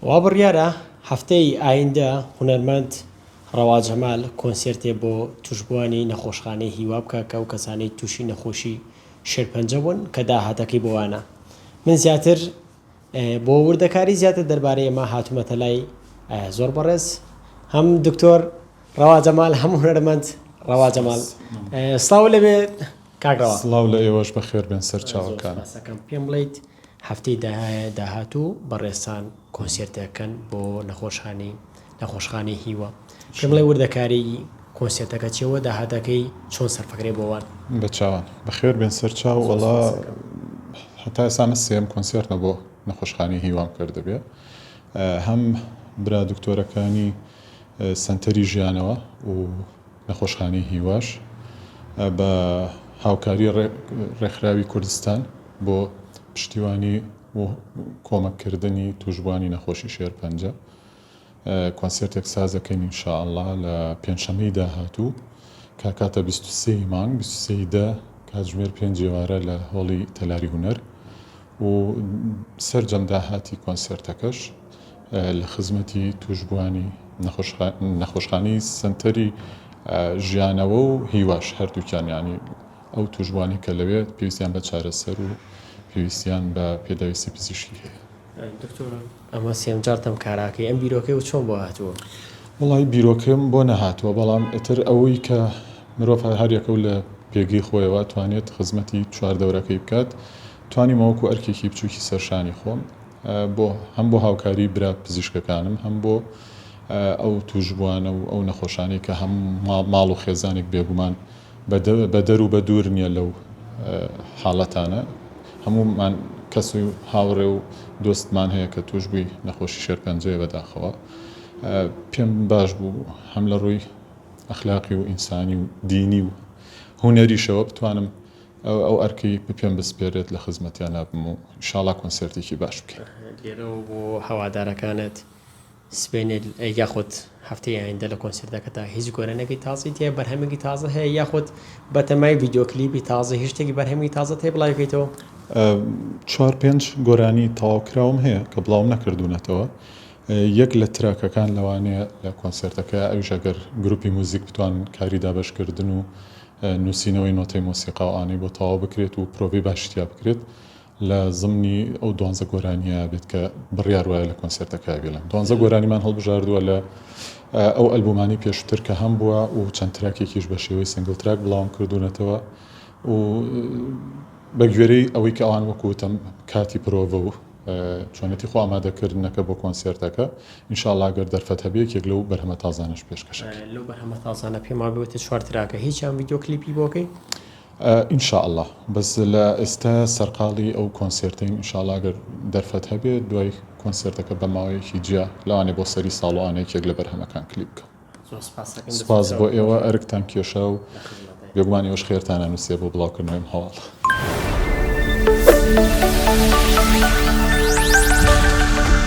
وا بڕیارە هەفتەی ئایندە هونەرمەند ڕەوا جەمال کۆنسێرتێ بۆ توشبووانی نەخۆشخانەی هیوا بکا کە ئەو کەسانەی تووشی نەخۆشی شێرپەنجە بوون کە داهاتەکەی بۆ وانە من زیاتر بۆ وردەکاری زیاتر دەربارەی ئەمە هاتوومەتە لای زۆر بەڕێز هەم دکتۆر ڕەوا جەمال هەم هونەرمەند ڕەوا جەمال سڵاو لەبێت کاک ڕەوا. سڵاو لە ئێوەش بەخێر بێن سەرچاوەکان. زۆر سوپاسەکەم پێم بڵێیت هەفتەی داهاتوو بەڕێزتان کۆنسێرتێک بکەن بۆ نەخۆشانی نەخۆشخانەی هیوا پێم بڵێ وردەکاریی کۆنسێرتەکە چیە وە داهاتەکەی چۆن سەرفەکرێ بۆ وان. بەچاوان. بەخێر بێن سەرچاو وەڵا هەتا ئێستا ئەمە سێیەم کۆنسێرتمە بۆ نەخۆشخانەی هیوام کردبێ هەم برا دکتۆرەکانی سەنتەری ژیانەوە و نەخۆشخانەی هیواش بە هاوکاری ڕێکخراوی کوردستان بۆ پشتیوانی و کۆمەککردنی تووشبووانی نەخۆشی شێرپەنجە کۆنسێرتێک سازدەکەین ان شاء اللە لە پێنجشەممەی داهاتوو کاکاتە بیست و سێ ی مانگ بیست و سێ ی دە کاتژمێر پێنج ی ئێوارە لە هۆڵی تەلاری هونەر و سەرجەم داهاتی کۆنسێرتەکەش لە خزمەتی تووشبووانی نەخۆشخانەی سەنتەری ژیانەوە و هیواش هەردووکیان یانی ئەو تووشبووانەی کە لەوێ پێویستیان بە چارەسەر و پێویستیان بە پێداویستی پزیشکی هەیە. ئەمە سێم جارتم کاراکەی ئەم بیرۆکەی و چۆن بۆ هاتووە؟ وەڵای بیرۆکەم بۆ نەهاتووە بەڵام ئیتر ئەوەی کە مرۆڤ هەر یەکەو لە پێگەی خۆیەوە توانێت خزمەتی چوار دەورەکەی بکات توانیمە وەکو ئەرکێکی بچوکی سەر شانی خۆم بۆ هەم بۆ هاوکاری برا پزیشکەکانم هەم بۆ ئەو توشبوانە و ئەو نەخۆشانەی کە هەموو ماڵ و خێزانێک بێگومان بەدەرو بە دوور نیە لەو حاڵەتانە هەموومان کەس و هاوڕێ و دۆستمان هەیە کە توش بووی نەخۆشی شێرپەنجەیە بەداخەوە پێم باش بوو هەم لە ڕووی ئەخلاقی و ئینسانی و دینی و هونەریشەوە بتوانم ئەو ئەرکی بپێم بسپێرێت لە خزمەتیانا بم و ئیشاڵا کۆنسێرتێکی باش بکەین. لێرەوە بۆ هەوادارەکانت. سبەینێ یاخود هەفتەی ئایندە لە کۆنسێرتەکەتا هیچ گۆرانیەکی تازەی تیایە بەرهەمێکی تازە هەیە یاخود بەتەمای ڤیدیۆ کلیپی تازە هیچ شتێکی بەرهەمی تازەت هەیە بڵاوی کەیتەوە؟ چوار پێنج گۆرانی تەواو کراوم هەیە کە بڵاوم نەکردوونەتەوە یەک لە تراکەکان لەوانەیە لە کۆنسێرتەکە ئەویش ئەگەر گروپی موزیک بتوان کاری دابەشکردن و نووسینەوەی نۆتەی مۆسیقا و ئانی بۆ تەواو بکرێت و پرۆڤەی باشی تیا بکرێت لە زەمنی ئەو دوانزە گۆرانیە بێت کە بڕیار وایە لە کۆنسێرتەکە بێلن دوانزە گۆرانیمان هەڵبژاردووە لە ئەو ئەلبومانی پێشوتر کە هەم بووە و چەند تراکێکیش بە شێوەی سنگل تراک بڵاوم کردوونەتەوە و بەگوێرەی ئەوەی کە ئەوان وەکوتم کاتی پرۆڤە و چۆنێتی خۆ ئامادەکردنەکە بۆ کۆنسێرتەکە ئینشاءڵاگەر دەرفەت هەبێ یەکێک لەو بەرهەمە تازانش پێشکەشەکە لەو بەرهەمە تازانە پێما بێتە چوار تراکە هیچیان ویددیو کلیپی بۆکەی؟ ان شاء اللە بەس لە ئێستا سەرقاڵی ئەو کۆنسێرتەین ان شاء اللە ئەگەر دەرفەت هەبێت دوای کۆنسێرتەکە بە ماوەیەکی جیا لەوانەیە بۆ سەری ساڵۆ ئانە یەکێک لە بەرهەمەکان کلیپ بکەم. زۆر سوپاس ئەکەین دەستتان سوپاس بۆ خۆش ئێوە بێت ئەرکتان کێشا و لە خزمەتین. بێگومان ئێوەش خێرتان ئەنوسێ بۆ بڵاو کردنەوەی ئەم هەواڵە.